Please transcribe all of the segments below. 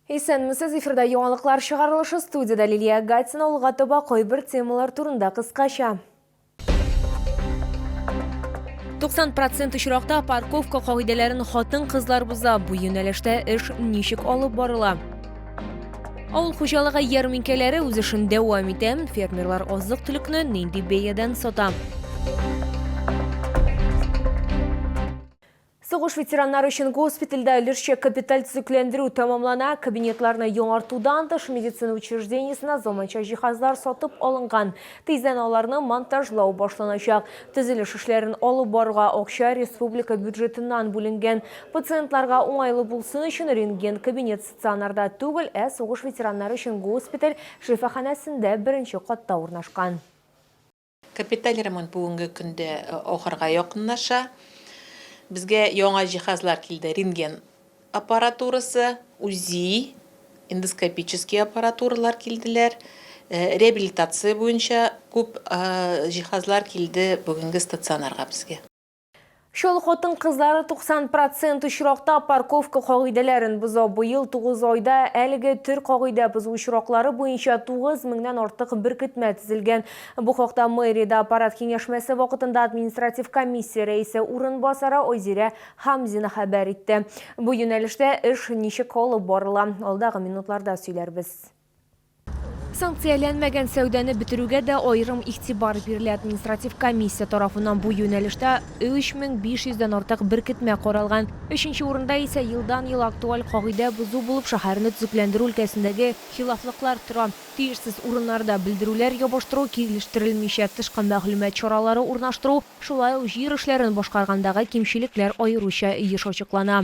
Исәнмесез, эфирда яңалыклар чыгарылышы, студиядә Лилия Гатина, алга таба кайбер темалар турында кыскача. 90 процент очракта парковка кагыйдәләрен хатын-кызлар боза. Бу юнәлештә эш ничек алып барыла? Авыл хуҗалыгы ярминкәләре үз эшен дәвам итә. Фермерлар азык-төлекне нинди бәядән сата? Сугыш ветераннары өчен госпитальдә өлешчә капиталь төзекләндерү тәмамлана, кабинетларны яңартудан тыш, медицина учреждениесенә заманча җиһазлар сатып алынган. Тиздән аларны монтажлау башланачак. Төзелеш эшләрен алып баруга акча республика бюджетыннан бүленгән. Пациентларга уңайлы булсын өчен рентген-кабинет стационарда түгел, ә сугыш ветераннары өчен госпиталь шифаханәсендә беренче катта урнашкан. Капиталь ремонт бүгенге көндә ахырга якынлаша. Безгә яңа җиһазлар килде, рентген аппаратурасы, УЗИ, эндоскопический аппаратуралар килделәр. Реабилитация буенча күп җиһазлар килде бүгенге стационарга безгә. Чал хатын кызлары 90 процент очракта парковка кагыйдәләрен боза. Быел 9 айда әлеге төр кагыйдә бозу очраклары буенча 9 меңнән артык беркетмә төзелгән. Бу хакта мэриядә аппарат киңәшмәсе вакытында административ комиссия рәисе урынбасары Айзирә Хамзина хәбәр итте. Бу юнәлештә эш ничек алып барыла, алдагы минутларда сөйләрбез. Санкцияләнмәгән сәүдәне бетерүгә дә аерым игътибар бирелә. Административ комиссия тарафыннан бу юнәлештә 3500 дән артык беркетмә каралган. Өченче урында исә елдан-ел актуаль кагыйдә бозу булып шәһәрне төзекләндерү өлкәсендәге хилафлыклар тора. Тиешсез урыннарда белдерүләр ябыштыру, килештерелмичә тышкы мәгълүмат чаралары урнаштыру, шулай ук җир эшләрен башкаргандагы кимчелекләр аеруча еш ачыклана.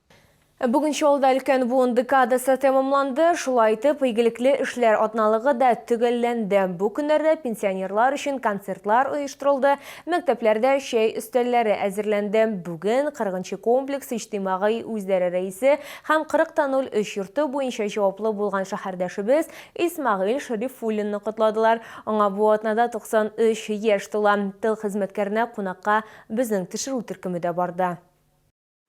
Бүген Чаллыда Өлкән буын декадасы тәмамланды. Шулай итеп, игелекле эшләр атналыгы да төгәлләнде. Бу көннәрдә пенсионерлар өчен концертлар оештырылды, мәктәпләрдә чәй өстәлләре әзерләнде. Бүген Кырыгынчы комплекс иҗтимагый үзләре рәисе һәм 40 та 03 йорты буенча җаваплы булган шәһәрдәшебез Исмәгыйль Шәрифуллинны котладылар. Аңа бу атнада 93 яшь тула. Тыл хезмәткәренә кунакка безнең төшерү төркеме дә барды.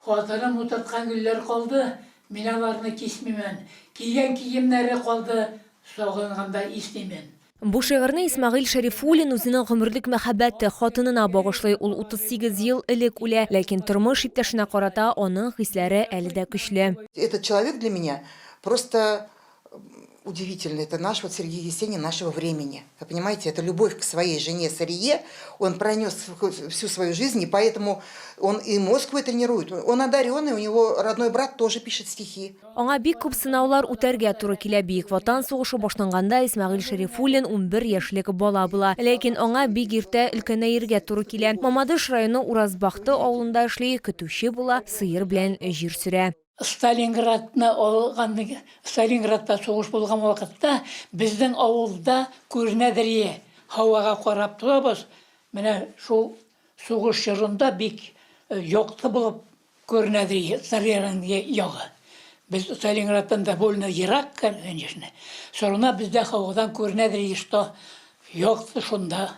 Хатыным утырткан гөлләр калды, мин аларны кисмимен, кигән киемнәре калды, сагынганда иснимен. Бу шигырьне Исмәгыйль Шәрифуллин үзенең гомерлек мәхәббәте, хатынына багышлый. Ул 38 ел элек үлә, ләкин тормыш иптәшенә карата аның хисләре әле дә көчле. Этот человек для меня просто удивительно, это наш вот Сергей Есенин нашего времени. Вы понимаете, это любовь к своей жене Сарие, он пронес всю свою жизнь, и поэтому он и мозг вы тренирует. Он одаренный, у него родной брат тоже пишет стихи. Аңа бик күп сынаулар үтәргә туры килә. Бөек Ватан сугышы башланганда Исмагил Шәрифуллин 11 яшьлек бала була. Ләкин аңа бик иртә өлкәнәергә туры килә. Мамадыш районы Уразбахты авылында эшли, көтүче була, сыер белән җир сөрә. Сталинградны алган, Сталинградта сугыш булган вакытта безнең авылда күренәдерие һавага карап торабыз. Менә шул сугыш чорында бик э, якты булып күренәдерие Сталинград ягы. Без Сталинградтан довольно ерак, конечно. Сорына бездә һавадан күренәдерие, что якты шунда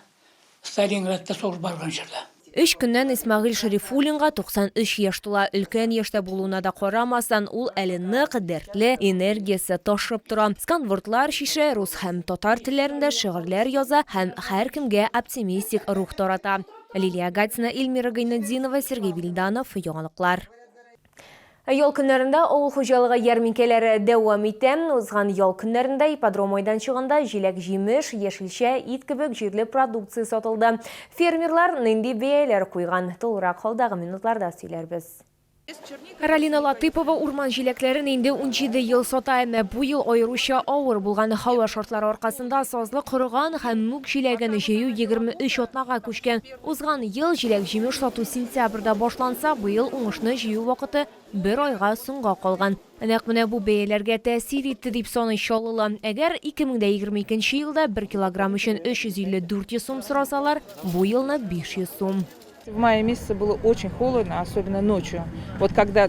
Сталинградта сугыш барган чорда. Өч көннән Исмәгыйль Шәрифуллинга 93 яшь тула. Өлкән яшьтә булуына да карамастан, ул әле нык, дәртле, энергиясе ташып тора. Сканвордлар чишә, рус һәм татар телләрендә шигырьләр яза һәм һәркемгә оптимистик рух тарата. Лилия Гатина, Ильмира Гайнетдинова, Сергей Вильданов, Яңалыклар. Ял көннәрендә авыл хуҗалыгы ярминкәләре дәвам итә. Узган ял көннәрендә ипподром майданчыгында җиләк-җимеш, яшелчә, ит кебек җирле продукция сатылды. Фермерлар нинди бәяләр куйган, тулырак алдагы минутларда сөйләрбез. Ралина Латыйпова урман җиләкләрен инде унҗиде ел сата, әмма бу ел аеруча авыр булган һава шартлары аркасында сазлык корыган һәм мүк җиләген җыю егерме өч атнага күчкән. Узган ел җиләк-җимеш сату сентябрьдә башланса, быел уңышны җыю вакыты бер айга соңга калган. Нәкъ менә бу бәяләргә тәэсир итте, дип саный Чаллылы. Әгәр 2020 икенче елда бер килограмм өчен 350-400 сум сорасалар, бу елны 500 сум. В мае месяце было очень холодно, особенно ночью. Вот когда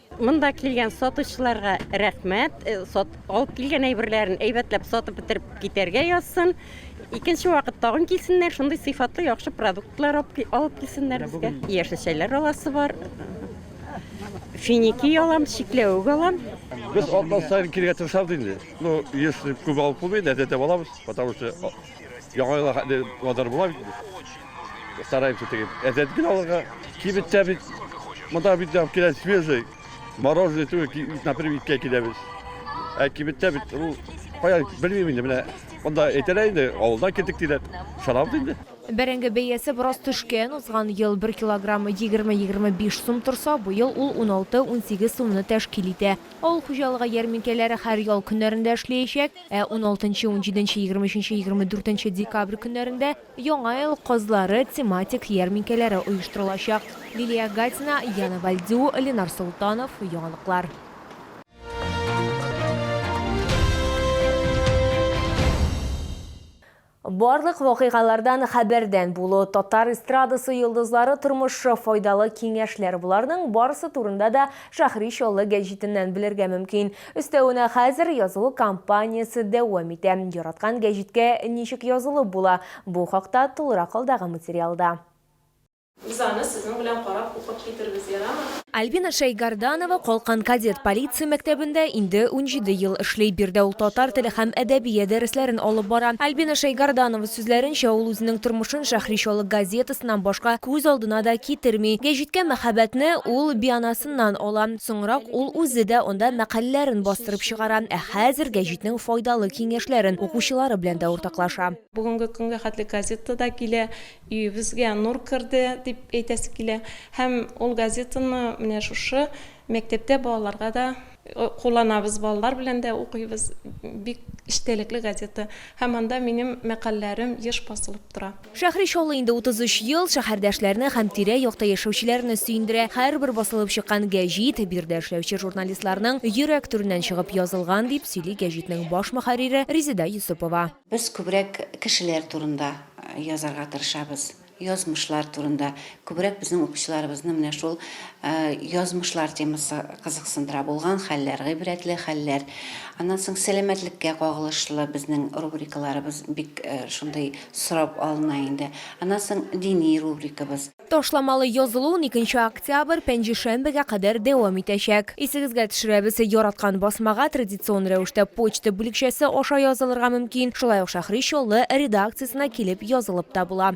Монда килгән сатучыларга рәхмәт. Э, сат, алып килгән әйберләрен әйбәтләп сатып бетереп китәргә язсын. Икенче вакыт тагын килсеннәр, шундый сыйфатлы яхшы продуктлар алып килсеннәр безгә. Яшел чәйләр аласы бар. Финики алам, чикләвек алам. Без атна сайын килергә тырышабыз инде. Ну, еш күп алып булмый, әтәтә алабыз, потому что Яңа елга хәтле планнар була бит инде. Стараемся теге әзәт генә алырга. Кибеттә бит, монда бит алып килә свежий. Мороженое түгел, например, иткә киләбез. Ә кибеттә бит, ну, кая, белмим инде, менә монда әйтәләр инде, авылдан килдек диләр. Шарап инде. Бәрәңге бәясе бераз төшкән, узган ел бер килограммы 20-25 сум торса, быел ул 16-18 сумны тәшкил итә. Авыл хуҗалыгы ярминкәләре һәр ял көннәрендә эшләячәк, ә уналтынчы, унҗиденче, егерме өченче, егерме дүртенче декабрь көннәрендә Яңа ел казлары тематик ярминкәләре оештырылачак. Лилия Гатина, Яна Вальдю, Ленар Солтанов, Яңалыклар. Барлык вакыйгалардан хәбәрдән булу, татар эстрадасы йолдызлары тормышы, файдалы киңәшләр, боларның барысы турында да Шәһри Чаллы гәҗитеннән белергә мөмкин. Өстәвенә хәзер язылу кампаниясе дәвам итә. Яраткан гәҗиткә ничек язылып була? Бу хакта тулырак алдагы материалда. Без аны сезнең белән карап укып китербез, ярамы? Альбина Шәйгарданова Калкан кадет полиция мәктәбендә инде унҗиде ел эшли. Биредә ул татар теле һәм әдәбия дәресләрен алып бара. Альбина Шәйгарданова сүзләренчә, ул үзенең тормышын Шәһри Чаллы газетасыннан башка күз алдына да китерми. Гәҗиткә мәхәббәтне ул бианасыннан ала. Соңрак ул үзе дә анда мәкаләләрен бастырып чыгара. Ә хәзер гәҗитнең файдалы киңәшләрен укучылары белән дә уртаклаша. Бүгенге көнгә хәтле газета да килә, Өебезгә нур керде, дип әйтәсе килә. Һәм ул газетаны менә шушы мәктәптә балаларга да кулланабыз, балалар белән дә укыйбыз. Бик эчтәлекле газета. Һәм анда минем мәкальләрем еш басылып тора. Шәһри Чаллы инде 33 ел шәһәрдәшләрне һәм тирә-якта яшәүчеләрне сөендерә. Һәрбер басылып чыккан гәҗит, биредә эшләүче журналистларның йөрәк түреннән чыгып язылган, дип сөйли гәҗитнең баш мөхәррире Резеда Йосыпова. Без күбрәк кешеләр турында язарга тырышабыз, язмышлар турында. Күбрәк безнең укучыларыбызны менә шул язмышлар темасы кызыксындыра. Булган хәлләр, гыйбрәтле хәлләр. Аннан соң сәламәтлеккә кагылышлы безнең рубрикаларыбыз бик шундый сорап алына инде. Аннан соң дини рубрикабыз. Ташламалы язылу уникенче октябрь, пәнҗешәмбегә кадәр дәвам итәчәк. Исегезгә төшерәбез, яраткан басмага традицион рәвештә почта бүлекчәсе аша язылырга мөмкин, шулай ук Шәһри Чаллы редакциясенә килеп язылып та була.